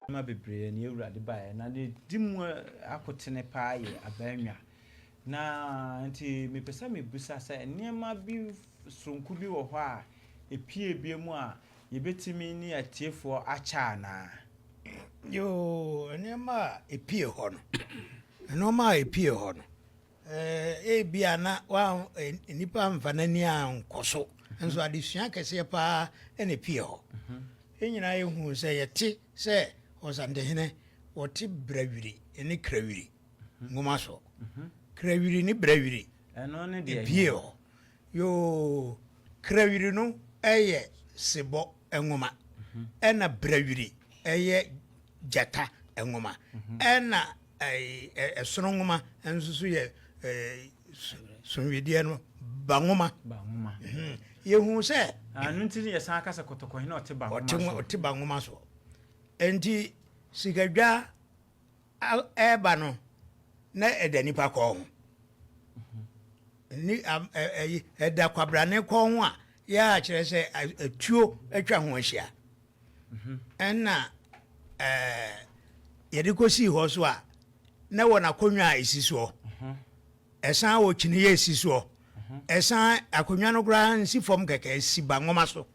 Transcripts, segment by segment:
Nneɛma bebree na Awurade baeɛ na ne di mu akotene paa yɛ abaanwa na nti mepɛ sɛ mebisa sɛ nneɛma bi soronko bi wɔ hɔ a ɛpie bie mu a yɛbɛtumi ne atiefoɔ akyɛ anaa? Yoo, nneɛma a ɛpie hɔ no, nneɛma a ɛpie hɔ no. Ɛɛ, ebia na nnipa amfa n'ani ankɔ so, nso adesua kɛseɛ paa na epie hɔ. Yɛn nyinaa yɛhu sɛ yɛte sɛ ɔsantehene wɔte Brɛwiri ne Krawiri nwoma so. Krawiri ne Brɛwiri epie hɔ. Yoo, Krawiri no yɛ sebɔ. nwoma, ɛna Brɛwiri ɛyɛ gyata nwoma, ɛna ɛsono nwoma nso so yɛ sonwedeɛ no ba nwoma. Yɛhu sɛ ɛno nti ne yɛsan kasa kɔtɔkɔhene ɔte ba nwoma so. Ɔte ba nwoma so. Enti sikadwa ɛreba no, na ɛda nnipa kɔn ho. Ɛda kwabrane kɔn ho a yɛa kyerɛ sɛ atuo atwa ho ahyia. Mhm. Ɛna yɛde kɔsii hɔ so a na wɔn akonnwa a ɛsi soɔ mhm. ɛsan wɔ kyiniiɛ ɛsi soɔ mhm. ɛsan akonnwa no koraa nsi fam kɛkɛ ɛsi ba nwoma so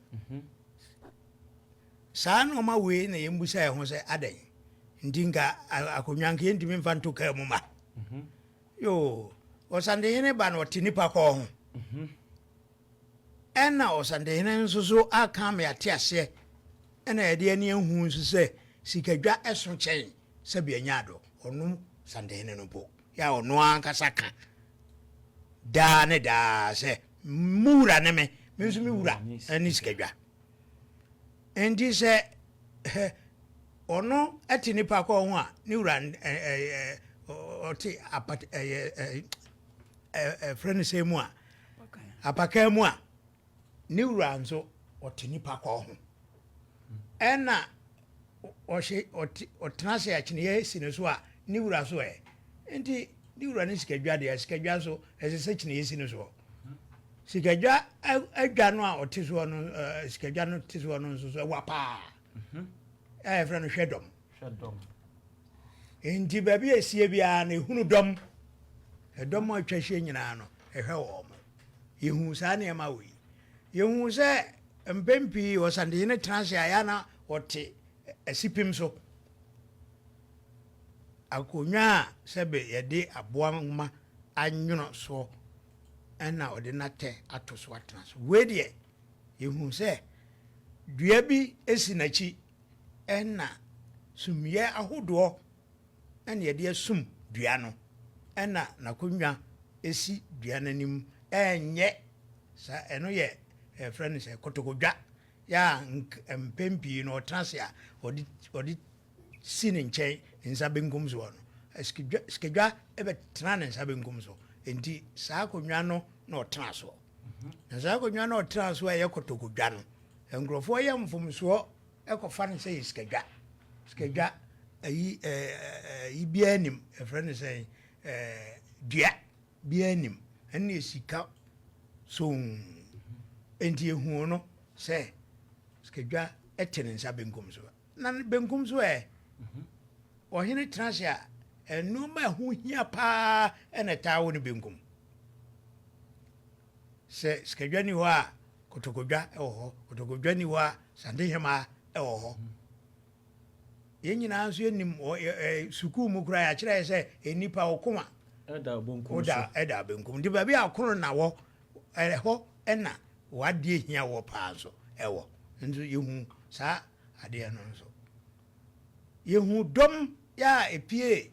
Saa nnoɔma wei na yɛn busa yɛn ho sɛ adɛn nti nka akonnwa nka yɛntumi mfa nto kaa mu ma mhm. yoo ɔsantehene ba na ɔte nipa kɔɔ ho mhm. ɛna ɔsantehene nso so aka me ate aseɛ ɛna yɛde ani ahu nso sɛ sikadwa ɛso kyɛn sɛbi anya adɔ ɔno santehene no po yɛ a ɔno ankasa ka daa ne daa sɛ mu wura ne me me nso me wura ɛne sikadwa Enti sɛ ɔno te nnipa kɔn ho a, ne wura ɔte apat ɛyɛ ɛfrɛ no sɛ mu a apakan mu a ne wura nso ɔte nnipa kɔn ho ɛna ɔhyɛ ɔtena ase akyiniiɛ si ne so a ne wura so ɛ nti ne wura ne sikadwa deɛ sikadwa so ɛsɛ sɛ kyiniiɛ si ne soɔ. Sikadwa adwa no a ɔte soɔ no sikadwa no te soɔ no nso so ɛwa paa a yɛfrɛ no hwɛ dɔm nti baabi a ɛsie biara no ɛhunu dɔm ɛdɔm a atwa hyia nyinaa no ɛhwɛ wɔ mo yɛhu saa nneɛma wɔ yi yɛhu sɛ mpɛn pii ɔsantehene tena ase a yɛana ɔte Asipem so, Akonnwa a sɛbe yɛde aboa nwoma anwono soɔ na wɔde n'atɛ ato so atena so. Wei deɛ, yɛhunu sɛ dua bi si n'akyi na sumiiɛ ahodoɔ na yɛde asum dua no na n'akonnwa si dua no anim, ɛnyɛ saa, ɛno yɛ, yɛfrɛ no sɛ kotokodwa. yɛ a nk mpɛn pii no ɔtena ase a ɔde ɔde si ne nkyɛn nsa benkum so hɔ no, sikadwa sikadwa bɛtena ne nsa benkum so. Enti saa akonnwa no na ɔtena so. Na saa akonnwa no ɔtena so a ɛyɛ kɔtɔkɔdwa no, nkurɔfoɔ yɛ mfomsoɔ kɔfa no sɛ yɛ sikadwa. Sikadwa ayi ɛɛ ɛɛ biara nim ɛfrɛ no sɛn ɛɛ dua. Biaa nnim, ɛnneɛ sika soo enti ɛhuu no sɛ sikadwa te ne nsa benkum so. Na ne benkum so ɛ, ɔhene tena ase a, nnoɔma ɛho hia paa ɛna ɛtaa wɔ ne benkum. Sɛ sikadwa ni hɔ a, kotokodwa ɛwɔ hɔ, kotokodwa ni hɔ a, santehemaa ɛwɔ hɔ. Yɛn nyinaa nso yɛnim wɔ sukuu mu koraa yɛakyerɛ yɛ sɛ nnipa wo koma ɛda benkum so ɛda benkum nti baabi a koro na wɔ ɛhɔ ɛna wadeɛ hia wɔ paa nso ɛwɔ nso yɛhu saa adeɛ no nso yɛhu dɔm yɛ a ɛpie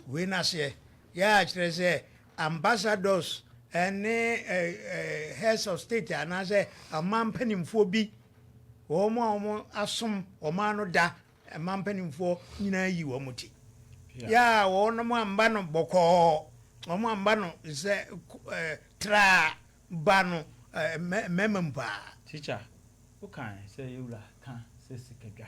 Wei n'aseɛ yɛ a kyerɛ sɛ ambassadors ne heads of state anaasɛ ɔman mpanimfoɔ bi wɔn a wɔn asom ɔman no da ɔman mpanimfoɔ nyinaa yi wɔn ti yɛ a wɔn mo amba no bɔkɔɔ wɔn amba no sɛ ɛɛ traa ba no ɛɛ mmarima mu paa. Teacher, wokan sɛ yɛwura ka sɛ sikadwa